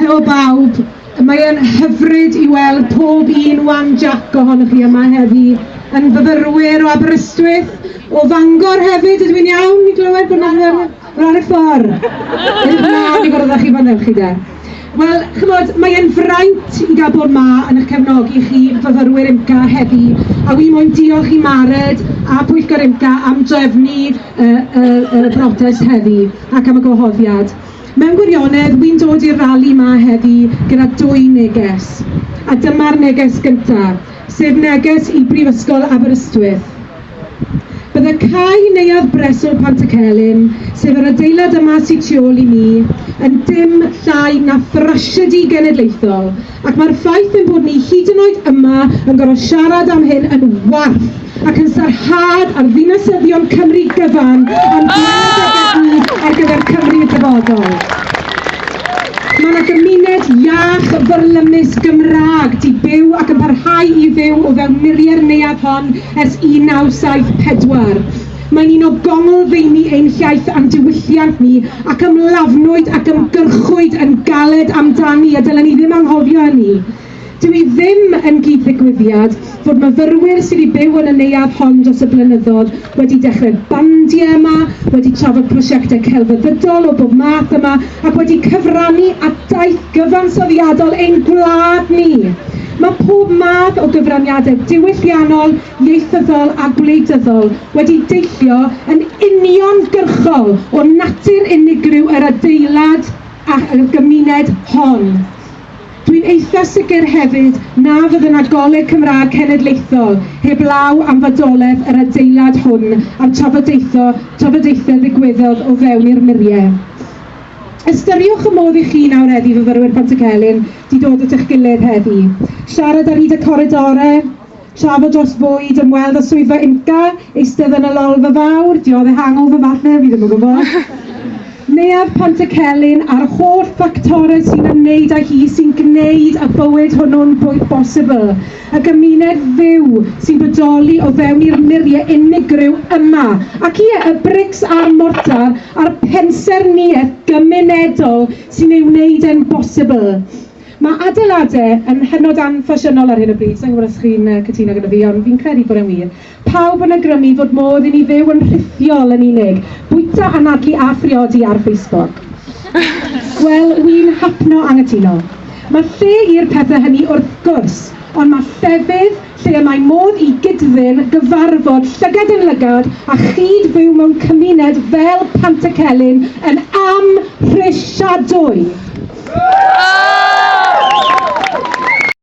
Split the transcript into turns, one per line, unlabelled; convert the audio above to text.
Helo bawb, mae e'n hyfryd i weld pob un wan Jac ohonoch chi yma heddi, yn fyfyrwyr o Aberystwyth, o Fangor hefyd, ydw i'n iawn i glywed bod yna fyfyrwyr? Wel, ar y ffordd! Edrych ymlaen i gwrdd â chi fan hyn chi de. Wel, chymod, mae e'n fraint i gael bod 'ma yn eich cefnogi chi, fyfyrwyr UMCA, heddi, a wi moyn diolch i Mared a Pwyllgor UMCA am drefnu y, y, y brotest heddi, ac am y gwahoddiad. Mewn gwirionedd, wi'n dod i'r rali 'ma heddi gyda dwy neges, a dyma'r neges gynta, sef neges i Brifysgol Aberystwyth. Bydde cae Neuadd Breswyl Pantycelyn, sef yr adeilad yma sy tu ôl i mi, yn dim llai na thrasiedi genedlaethol, Ac mae'r ffaith ein bod ni hyd yn oed yma yn gorfod siarad am hyn yn warth ac yn sarhad ar ddinasyddion Cymru gyfan am brawddegau ar gyfer Cymru y dyfodol. Mae yna gymuned iach, fyrlymus, Gymraeg, di byw ac yn parhau i fyw o fewn muriau'r neuadd hon ers 1974. Mae'n un o gonglfeini ein hiaith a'n diwylliant ni, ac ymlafnwyd ac ymgyrchwyd yn galed amdani, a dylen ni ddim anghofio hynny. Dyw hi ddim yn gyd-ddigwyddiad fod myfyrwyr sydd i byw yn y neuadd hon dros y blynyddoedd wedi dechrau bandiau yma, wedi trafod prosiectau celfyddydol o bob math yma, ac wedi cyfrannu at daith gyfansoddiadol ein gwlad ni. Mae pob math o gyfraniadau diwylliannol, ieithyddol a gwleidyddol wedi deillio yn uniongyrchol o natur unigryw yr adeilad a'r gymuned hon. Dwi'n eitha sicr hefyd na fydd yna Goleg Cymraeg Cenedlaethol heblaw am fodolaeth yr adeilad hwn a'r trafodaetho trafodaethau ddigwyddodd o fewn i'r muriau. Ystyriwch y modd i chi nawreddu fyfyrwyr Pontycelyn di dod at eich gilydd heddi, siarad ar hyd y coridorau, Trafod dros fwyd, ymweld â swyddfa IMCA, eistedd yn y Lolfa Fawr, diodde hangover falle, fi ddim yn gwybod. Neuadd Pontycelyn a'r holl ffactorau sy'n ymwneud â hi sy'n gwneud y bywyd hwnnw'n fwy bosibl, y gymuned fyw sy'n bodoli o fewn i'r muriau unigryw yma, ac ie, y brics a'r mortar a'r pensaernïaeth gymunedol sy'n ei wneud e'n bosibl. Mae adeiladau yn hynod anffasiynol ar hyn o bryd, sa i'n gwybod os chi'n cytuno gyda fi, ond fi'n credu bod e'n wir. Pawb yn awgrymu fod modd i ni fyw yn rhithiol yn unig, bwyta, anadlu a phriodi ar Facebook. Wel, wi'n hapno anghytuno. Mae lle i'r pethau hynny wrth gwrs, ond mae llefydd lle y mae modd i gyd-ddyn gyfarfod llygad yn lygad a chyd-fyw mewn cymuned fel Pantycelyn yn amhrisiadwy.